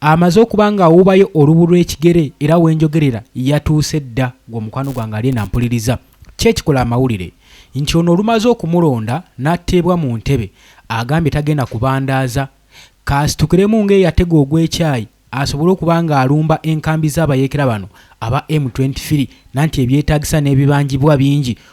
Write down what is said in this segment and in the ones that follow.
Amaze okuba ng'awuubayo olubu lw'ekigere era we njogerera yatuuse dda ng'omukwano gwange ali eno ampuliriza. Kiki ekikola amawulire nti ono olumaze okumulonda n'atteebwa mu ntebe agambye tagenda kubandaaza kaasitukiremu ng'eyatega ogw'ekyayi asobole okuba ng'alumba enkambi z'abayeekera bano aba M twenty three nanti ebyetaagisa n'ebibanjibwa bingi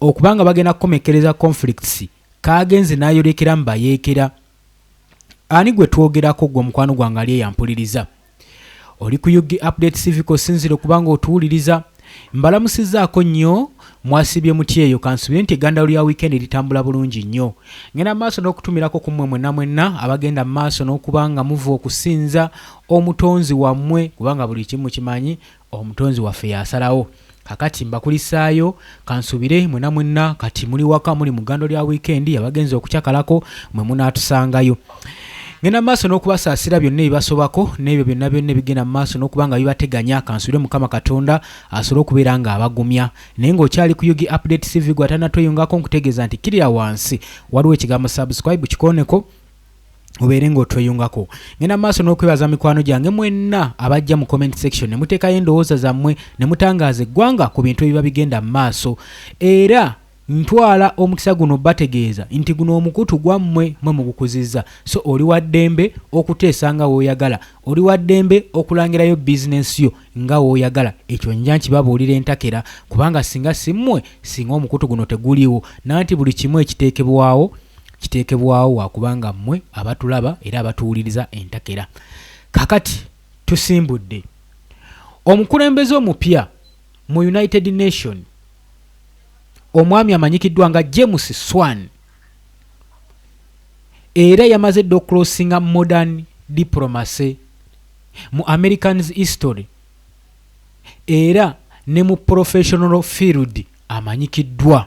Okuba nga bagenda kukomekkereza conflicts kaagenze n'ayolekera mu bayeekera. Ani gwe twogerako ggwe omukwano gwange ali eyampuliriza? Oli ku UG Update TV kosinzira okuba nga otuwuliriza. Mbalamusizzaako nnyo mwasibye muti eyo kansubire nti egandalo lya wiikendi litambula bulungi nnyo ngenda maaso n'okutumirako ku mmwe mwenna mwenna abagenda mu maaso n'okuba nga muva okusinza omutonzi wammwe kubanga buli kimu kimanyi Omutonzi waffe y'asalawo. Kakati mbakulisaayo, kansuubire, mwena mwenna kati muli waka, muli mu gando lya wiikendi, abagenze okucakalako, mwe munaatusangayo. Ngenda mu maaso n'okubasaasira byonna ebibasobako n'ebyo byonna byonna ebigenda mu maaso n'okuba nga bibateganya kansubire mukama katonda asobole okubeera ng'abagumya naye ng'okyali ku yugi update cv gwe atanatweyungako nkutegeeza nti kirira wansi waliwo ekigambo subscribe kikoneko obeere ng'otweyungako ngenda maaso n'okwebaza mikwano gyange mwenna abajja mu comment section ne muteekayo endowooza zammwe ne mutangaaza eggwanga ku bintu ebiba bigenda mu maaso era ntwala omukisa guno bategeeza nti guno omukutu gwammwe mwe mugukuzizza so oli wa ddembe okuteesa nga w'oyagala oli wa ddembe okulangirayo bizinensi yo nga w'oyagala ekyo nja nkibabuulira entakera kubanga singa simmwe singa omukutu guno teguliiwo nanti buli kimu ekiteekebwawo kiteekebwawo wa kuba nga mmwe abatulaba era abatuwuliriza entakera. Kakati tusimbudde omukulembeze omupya mu United Nation omwami amanyikiddwa nga James Swan era yamaze dda okulosinga modern diplomacy mu Americans history era ne mu professional field amanyikiddwa.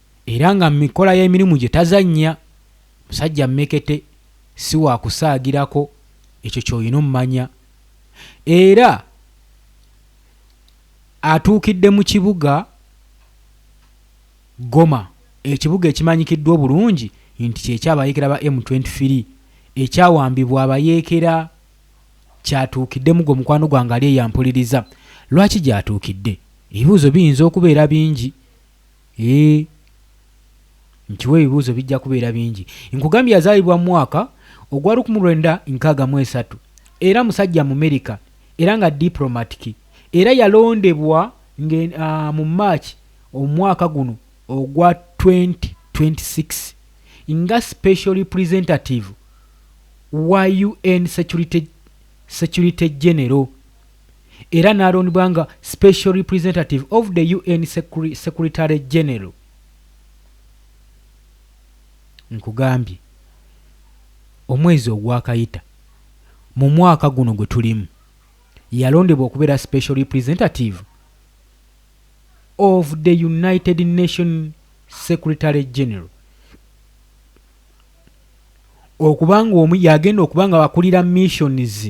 Era nga mu mikola y'emirimu gye tazannya. Musajja mmekete, si wa kusaagirako, ekyo ky'olina ommanya. Era atuukidde mu kibuga Goma, ekibuga ekimanyikiddwa obulungi nti ky'eky'abayeekera ba M twenty three ekyawambibwa abayeekera. Ky'atuukidde mu gwo mukwano gwange ali eyampuliriza. Lwaki gy'atuukidde? Ebibuuzo biyinza okubeera bingi. Eeh nkiwa ebibuuzo bijja kubeera bingi. Nkugambye yazaalibwa mu mwaka ogwa lukmu lwenda nkaaga mu esatu era musajja Mumerika era nga diplomatiki era yalondebwa nge aah mu March omwaka guno ogwa twenty twenty six nga special representative wa UN security security general. era n'alondbwa nga Special Representative of the UN Secretary General. Nkugambye, omwezi ogwakayita, mu mwaka guno gwe tulimu, yalondebwa okubeera Special Representative of the United Nations Secretary General. okubanga omu yagenda okuba nga akulira missions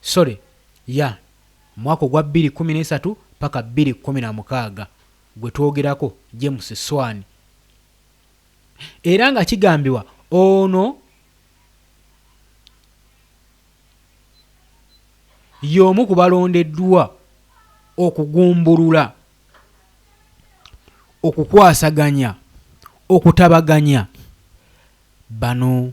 sorry ya mwaka ogwa bbiri kkumi n'esatu paka bbiri kkumi na mukaaga gwe twogerako James Swan era nga kigambiwa ono y'omu ku balondeddwa okugumbulula okukwasaganya okutabaganya bano.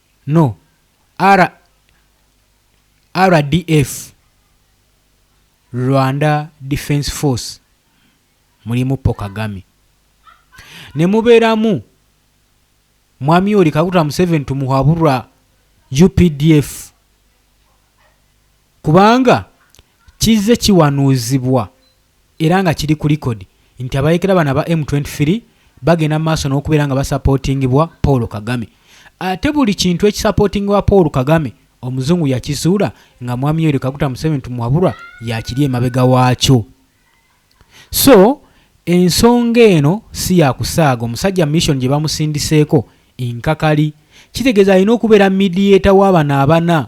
No RDF, Rwanda Defence Force, mulimu Paul Kagame. Nemuberamu Mwami Yoweri Kaguta Museveni tumuhabura UPDF. Kubanga kizze kiwanuuzibwa. era nga kiri ku likodi nti abayekera bano aba M twenty three bagenda mu maaso n'okubeera nga basapootingibwa Paul Kagame ate buli kintu ekisapootingibwa Paul Kagame Omuzungu yakizuula nga Mwami Yoweri Kaguta Museveni tumuwabulwa yakiri emabega waakyo so ensonga eno si yakusaaga omusajja mission gye bamusindiseeko nkakali kitegeeza alina okubeera midiyeeta w'abano abana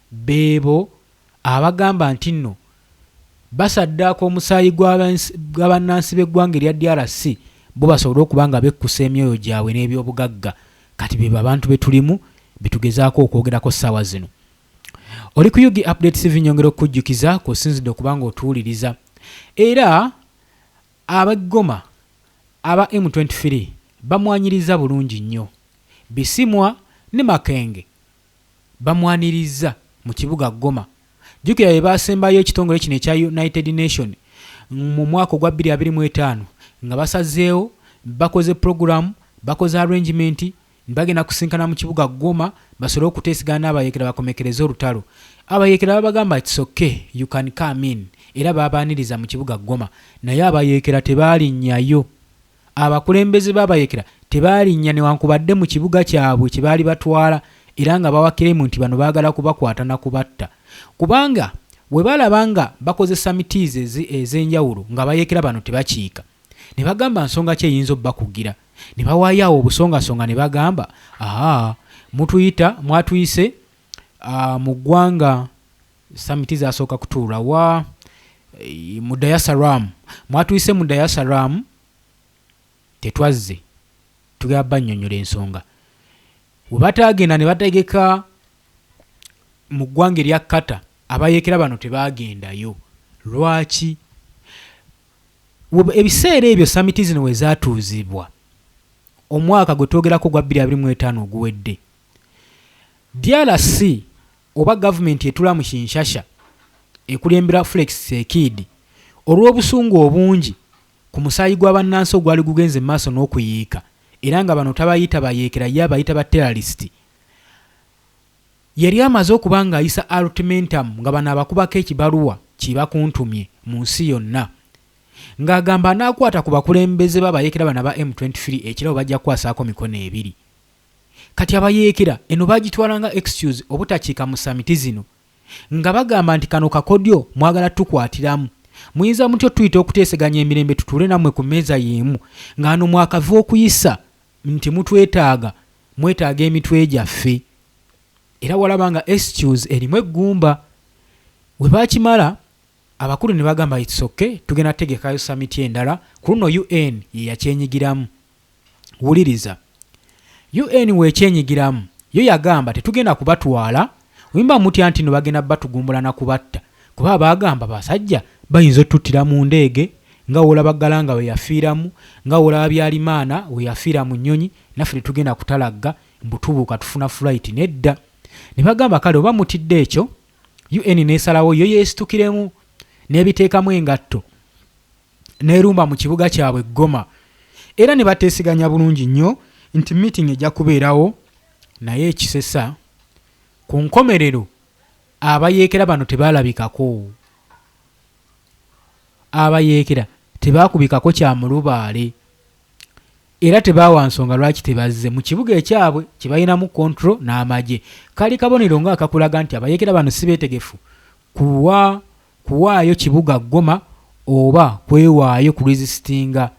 Beebo abagamba ntinno basaddaaka omusaayi gwa bannansi b'eggwanga erya DRC bo basobole okuba nga bekkusa emyoyo gyabwe n'ebyobugagga kati beebo abantu betulimu betugezaako okwogerako ssaawa zino. Oli ku UG Update TV nyongera okukujjukiza kw'osinzidde okuba nga otuwuliriza era ab'e Goma aba M23 bamwanyiriza bulungi nnyo. Bisimwa ne Makenge. bamwanirizza mu kibuga Goma. Jjukira be baasembayo ekitongole kino ekya United Nation mu mwaka ogwa bbiri abiri mu etaano nga basazeewo, bakoze pulogulamu, bakoze arrangement nti bagenda kusinkana mu kibuga Goma basobole okuteesegana n'abayeekera bakomekereze olutalo. Abayeekera babagamba it's okay, you can come in era baabaaniriza mu kibuga Goma naye abayeekera tebaalinnyayo. Abakulembeze b'abayekera tebaalinnya newankubadde mu kibuga kyabwe kye baali batwala era nga bawakiremu nti bano baagala kubakwata na kubatta kubanga bwe balaba nga bakozesa mitiizi ezi ez'enjawulo ng'abayekera bano tebakiika ne bagamba nsonga ki eyinza obbakugira ne bawaayo awo obusongasonga ne bagamba aa mutuyita mwatuyise aa mu ggwanga Summit zasooka kutuula wa? Eh, mu Dayasaram. Mwatuyise mu Dayasaram, tetwazze. Tugaba bannyonyola ensonga. We bataagenda ne bategeka mu ggwanga erya Qatar, abayeekera bano tebaagendayo. Lwaki? ebiseera ebyo samiti zino we zaatuuzibwa omwaka gwe twogerako ogwa 225 oguwedde drc Oba gavumenti etula mu Kinshasha ekulembera Flex Tsekiidi olw'obusungu obungi ku musaayi gwa bannansi ogwali gugenze mu maaso n'okuyiika era nga bano tabayita bayeekera ye abayita ba terralist yali amaze okuba ng'ayisa ultimentum nga bano abakubako ekibaluwa ki bakuntumye mu nsi yonna ng'agamba anaakwata ku bakulembeze b'abayeekera bano aba M23 ekirabo bajja kukwasaako mikono ebiri. Kati abayeekera eno baagitwala nga excuse obutakiika mu samiti zino nga bagamba nti kano kakodyo mwagala tukwatiramu. Muyinza mutya otuyita okuteeseganya emirembe tutuule nammwe ku mmeeza y'emu nga wano mwakava okuyisa nti mutwetaaga, mwetaaga emitwe gyaffe? Era walaba nga excuse erimu eggumba. We baakimala abakulu ne bagamba it's ok tugenda kutegekayo samiti endala, ku luno UN ye yakyenyigiramu. wuliriza UN wekyenyigiramu yo yagamba tetugenda kubatwala wemba mutya ntino bagenda batugumbula na kubatta kuba abagamba basajja bayinza otuttira mu ndeege nga wolaba galanga weyafiiramu nga wolaba byalimaana weyafiira mu nyonyi naffe tetugenda kutalagga mbutubuuka tufuna flight nedda ne bagamba kale oba mutidde ekyo UN nesalawo yo yesitukiremu nebiteekamu engatto n'erumba mu kibuga kyabwe Goma era ne bateeseganya bulungi nnyo nti meeting ejja kubeerawo naye ekisesa ku nkomerero abayeekera bano tebaalabikako abayeekera tebaakubikako kya mulubaale era tebaawa nsonga lwaki tebazze mu kibuga ekyabwe kye balinamu kontro n'amagye kali kabonero ng'akakulaga nti abayeekera bano si beetegefu kuwa kuwaayo kibuga Goma oba kwewaayo ku resistinga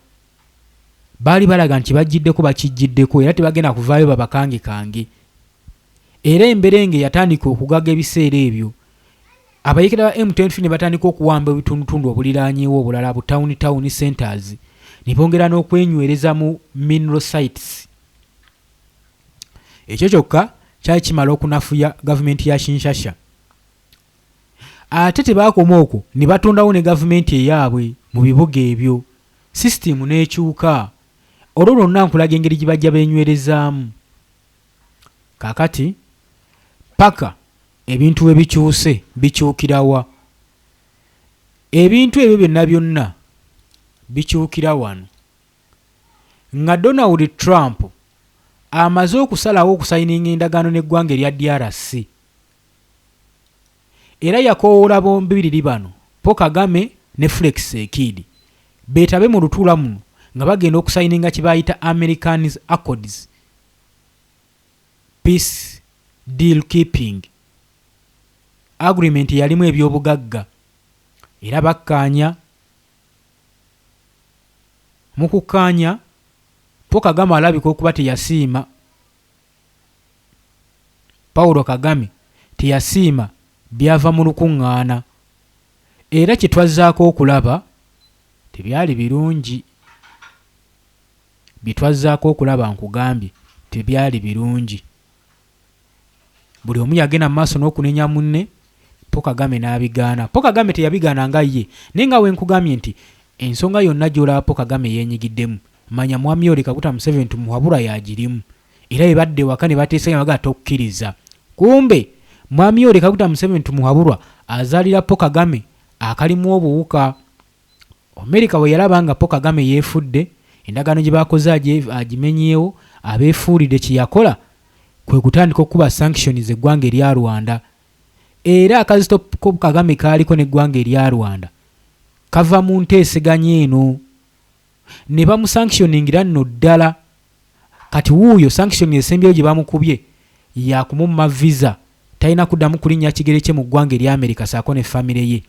baali balaga nti kibajjiddeko bakijjiddeko era tebagenda kuvaayo babakangekange era emberenge yatandika okugaga ebiseera ebyo abayekera ba M23 ne batandika okuwamba ebitundutundu obuliranyewo obulala bu town town centers ne bongera n'okwenywereza mu mineral sites ekyo kyokka kyali kimala okunafuya gavumenti ya Kinshasha Ate tebaakoma okwo ne batondawo ne gavumenti eyaabwe mu bibuga ebyo, sisitiimu n'ekyuka. Olwo lwonna nkulaga engeri gye bajja beenywerezaamu. Kaakati, ppaka ebintu we bikyuse, bikyukira wa? Ebintu ebyo byonna byonna bikyukira wano. Nga Donald Trump amaze okusalawo okusayininga endagaano n'eggwanga erya DRC, era yakowoola bombiriri bano Paul Kagame ne Flex Ssekiidi beetabe mu lutuula muno nga bagenda okusayininga kye baayita Americans Accords Peace Deal Keeping Agreement eyalimu ebyobugagga era bakkaanya Mu kukkaanya, Paul Kagame alabika okuba teyasiima Paulo Kagame teyasiima byava mu lukungaana era kye twazzaako okulaba tebyali birungi. Bye twazzaako okulaba nkugambye tebyali birungi. Buli omu yagenda mu maaso n'okunenya munne Po Kagame n'abigaana. Po Kagame teyabigaana nga ye naye nga wenkugambye nti ensonga yonna gy'olaba Po Kagame yeenyigiddemu Manya mwami oli kaguta museveni tumuwabura yagirimu era bebadda ewaka nebateesa nabagala tokukiriza kumbe mwami oli kaguta museveni tumuwaburwa azalira po kagame akalimu obuwuka America bweyalaba nga po kagame yefudde endagaano gyebakoze agimenyeewo abefuulide kyeyakola kwekutandika okukuba sanctions eggwanga erya Rwanda era akazito ko kagame kaaliko neggwanga erya Rwanda kava mu nteeseganya eno ne bamusanctioningira nno ddala kati wuuyo sanction esembyeyo gye bamukubye yakumumma visa talina kuddamu kulinnya kigere kye mu ggwanga erya america saako ne famire ye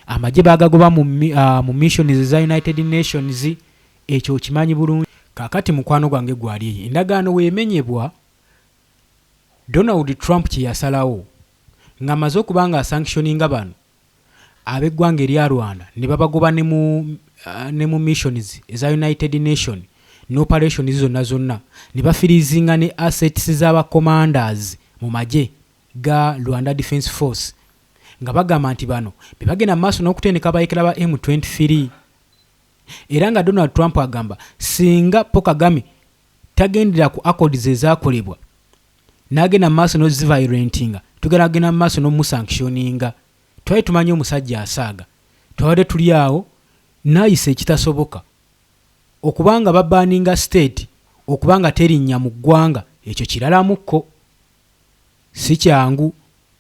amagye bagagoba mu, uh, mu missions eza united nations ekyo okimanyi bulungi kakati mukwano gwange gwali eyo endagaano weemenyebwa donald trump kye yasalawo ng'amaze okuba nga asanctioninga bano ab'eggwanga erya Rwanda ne babagoba ne mu ne mu missions eza United Nation ne operations zonna zonna ne bafiriizinga ne assets za ba commanders mu magye ga Rwanda Defence Force nga bagamba nti bano be bagenda mu maaso n'okutendeka abayekera ba M23 era nga Donald Trump agamba singa Paul Kagame tagendera ku accords ezakolebwa nagenda mumaaso nozivirentinga tugera agenda mumaaso nomusankishoninga twali tumanyi omusajja asaaga twabadde tuli awo nayisa ekitasoboka okubanga babaninga state okubanga terinnya mu ggwanga ekyo kiralamu ko sikyangu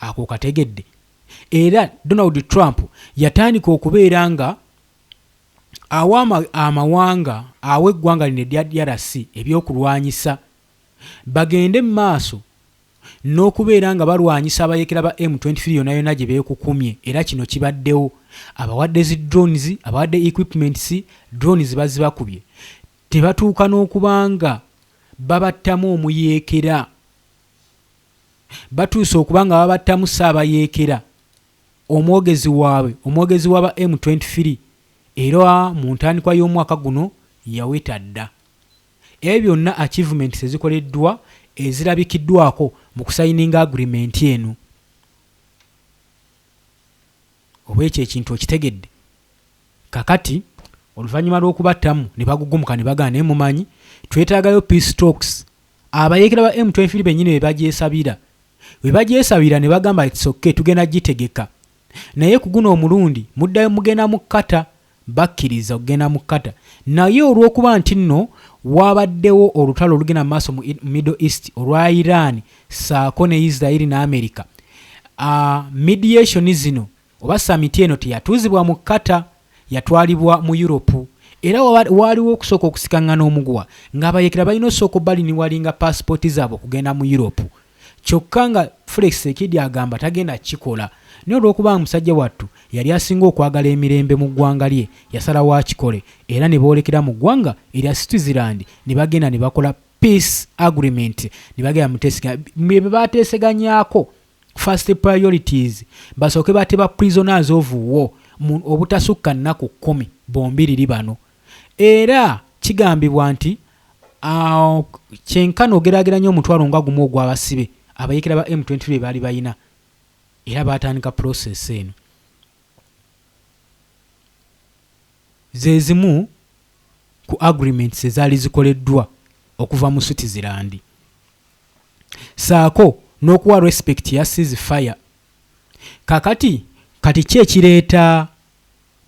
Ako okategedde? Era Donald Trump yatandika okubeera nga awa amawanga awa eggwanga lino erya DRC ebyokulwanyisa bagende mu maaso n'okubeera nga balwanyisa abayekera ba M23 yona yona gye beekukumye era kino kibaddewo abawadde zi drones abawadde equipments drones bazibakubye tebatuuka n'okubanga babattamu omuyeekera batuuse okuba nga babattamu Ssaabayeekera, omwogezi waabwe omwogezi waba M twenty three era mu ntandikwa y'omwaka guno yaweta dda. Ebyo byonna achievements ezikoleddwa ezirabikiddwako mu kusayininga agreement eno. Oba ekyo ekintu okitegedde? Kakati, oluvannyuma lw'okubattamu, ne bagugumuka ne bagamba, Naye, mumanyi, twetaagayo peace talks. Abayeekera ba M23 bennyini be bagyesabira. Be bagyesabira, ne bagamba, It's okay, tugenda gitegeka. Naye ku guno omulundi, muddayo, mugenda mu Qatar. bakkiriza okugenda mu Qatar naye olw'okuba nti nno waabaddewo olutalo olugenda mu maaso mu Middle East olwa Iran ssaako ne Israel ne America, uh, mediation zino oba samiti eno teyatuuzibwa mu Qatar, yatwalibwa mu Europe era waaliwo okusooka okusikaŋŋana omuguwa ng'abayeekera balina osooka obaliniwalinga paasipooti zaabwe okugenda mu Europe. kyokka nga Felix Tsekedi agamba tagenda kukikola naye olw'okuba nga musajja wattu yali asinga okwagala emirembe mu ggwanga lye yasalawo akikole era ne boolekera mu ggwanga erya Switzerland ne bagenda ne bakola Peace Agreement ne bagenda mutesega bye baateeseganyaako first priorities basooke bate ba prisoners of war obutasukka nnaku kkumi bombiriri bano Era kigambibwa nti a kyenkana ogerageranya omutwalo nga gumu ogw'abasibe abayeekera ba M twenty three bebaali balina era baatandika process eno. Zezimu ku agreements ezaali zikoleddwa okuva mu Switzerland saako n'okuwa respect ya cease fire. Kakati kati ki ekireeta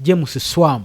James Swam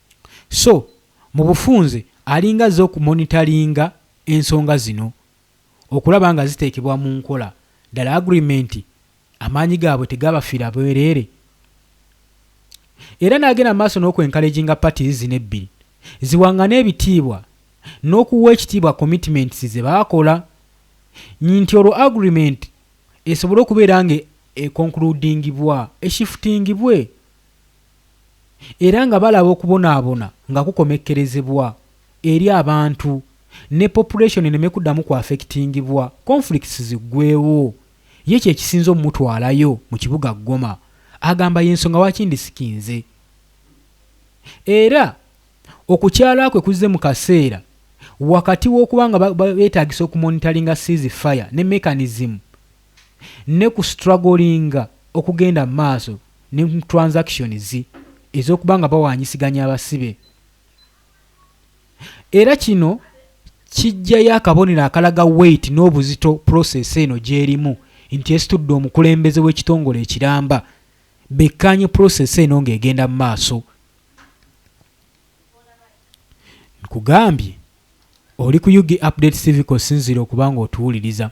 So mubufunze alinga azze oku monitoringa ensonga zino okulaba nga ziteekebwa mu nkola. Ddala agreement amaanyi gaabwe tegabafiira bwereere? Era n'agenda mu maaso n'oku encouraginga parties zino ebbiri ziwangane ebitiibwa n'okuwa ekitiibwa commitments ze baakola nti olwo agreement esobole okubeera nga e concludingibwa, e shiftingibwe. era nga balaba okubonaabona nga kukomekkerezebwa eri abantu ne population eneme kuddamu ku affectingibwa, conflicts ziggweewo, ye kye kisinze omumutwalayo mu kibuga Goma. Agamba y'ensonga lwaki ndisikinze era okukyala kwe kuzze mu kaseera wakati w'okuba nga beetaagisa okumonitalinga cease fire ne mechanism ne ku strugglinga okugenda mu maaso ne mu transactions ez'okuba nga bawaanyisiganya abasibe era kino kijjayo akabonero akalaga weight n'obuzito process eno gy'erimu nti esitudde omukulembeze w'ekitongole ekiramba bekkaanye process eno ng'egenda mu maaso nkugambye oli ku ug update civico sinziira okuba ng'otuwuliriza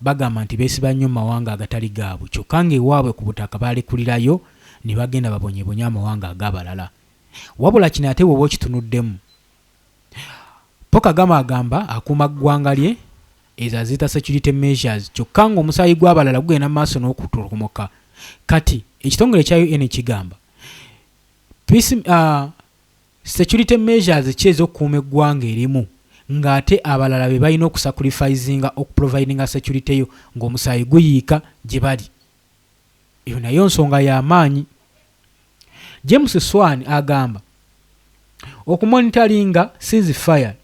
Bagamba nti beesiba nnyo mu mawanga agatali gaabwe kyokka ng'ewaabwe ku butaka baalekulirayo ne bagenda babonyebonye amawanga ag'abalala. Wabula kino ate bw'oba okitunuddemu, Paul Kagame agamba akuuma ggwanga lye, ezo aziyita security measures, kyokka ng'omusaayi gw'abalala gugenda mu maaso n'okutolomoka. Kati ekitongole ekya UN kigamba, Peace, uh, Security measures ki ez'okukuuma eggwanga erimu nga ate abalala be balina okusacurifisinga oku providinga security yo nga omusaayi guyiika gye bali? Eyo nayo nsonga ya maanyi. James Swan agamba, Okumonitalinga cease fire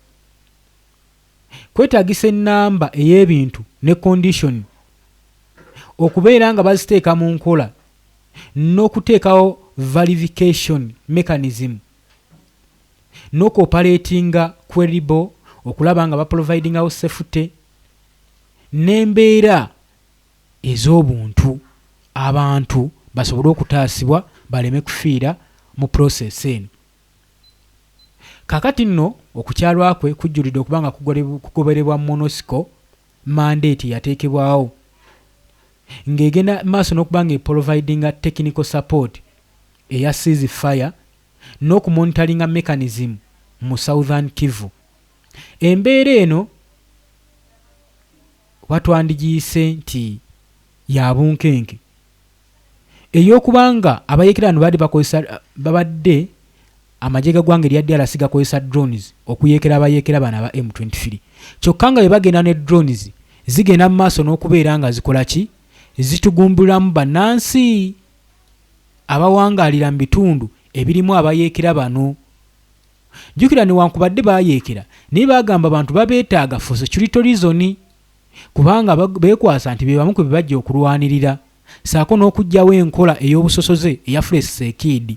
kwetaagisa ennamba ey'ebintu ne kondisoni okubeera nga baziteeka mu nkola n'okuteekawo valification mechanism n'oku operatinga Queryball okulaba nga baprovidingawo safety n'embeera ez'obuntu abantu basobole okutaasibwa baleme kufiira mu process eno. Kaakati nno okukyalwa kwe kujjulidde okuba nga kugoberebwa Monosco mandate eyateekebwawo ng'egenda maaso n'okuba ng'epolovaidinga technical support eya cease fire n'okumonitalinga mechanism mu Southern Kivu. Embeera eno oba twandigiyise nti ya bunkenke ey'okuba nga abayeekera bano baabadde bakozesa babadde Amagye ga gwanga erya DRC gakozesa drones okuyeekera abayeekera bano aba M twenty three kyokka nga bwe bagenda ne drones zigenda mu maaso n'okubeera nga zikola ki? zitugumbulamu bannansi abawangaalira mu bitundu ebirimu abayeekera bano. Jjukira newankubadde bayeekera naye bagamba abantu babeetaaga for security reason kubanga beekwasa nti be bamu ku bye bajja okulwanirira ssaako n'okuggyawo enkola ey'obusosoze eyafula esseekiidi.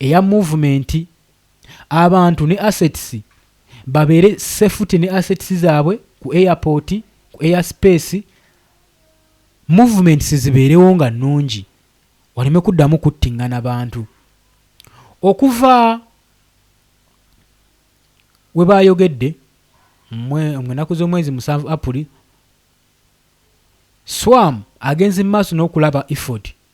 eya movement abantu ne assets babeere safety ne assets zaabwe ku airport ku air space movements zibeerewo nga nnungi waleme kuddamu kuttingana bantu okuva we baayogedde mu enaku z'omwezi musanvu apuli swam agenze mu maaso n'okulaba effort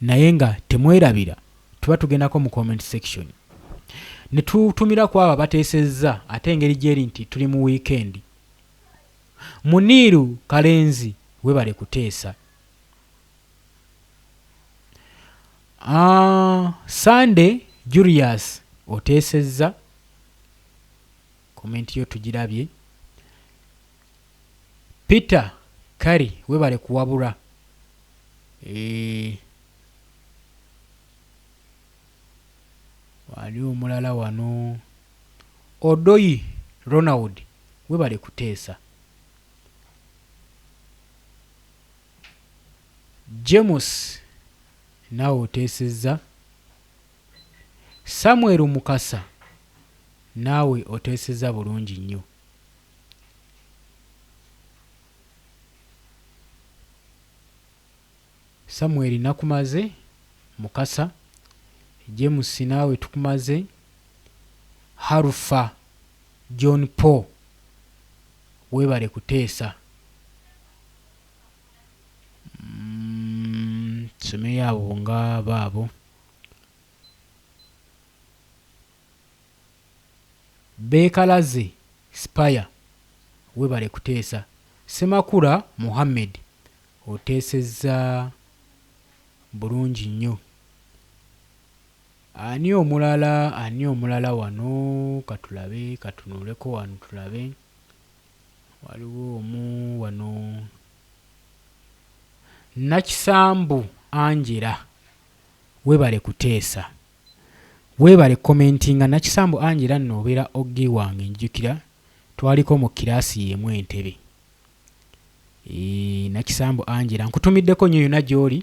naye nga temwerabira tuba tugendako mu comment section netutumira kwabo abatesezza ate engeri gyeri nti tuli mu weekend muniiru kalenzi webale kuteesa ah, sande julius otesezza Comment yo tujirabye. Peter Kari webale kuwabura. Eeh. Wali omulala wano. Odoyi Ronald webale kuteesa. James nawe otesezza. Samuel Mukasa naawe oteeseza bulungi nnyo. Samuel nakumaze, Mukasa, James naawe tukumaze, Harufa John Paul weebale kuteesa. Tusomeyo abo nga baabo. Beekalaze Spire webale kuteesa. Ssemakula Mohammed oteesezza bulungi nnyo. Ani omulala ani omulala wano katulabe katunuleko wano tulabe waliwo omu wano Nakisambu Angela webale kuteesa webale commentinga Nakisambu Angela nno obeera og wange njijukira twaliko mu kiraasi yemu Entebbe eeh Nakisambu Angela nkutumiddeko nnyo yona gyoli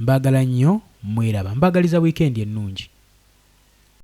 Mbagala nnyo mweraba mbagaliza weekend ennungi.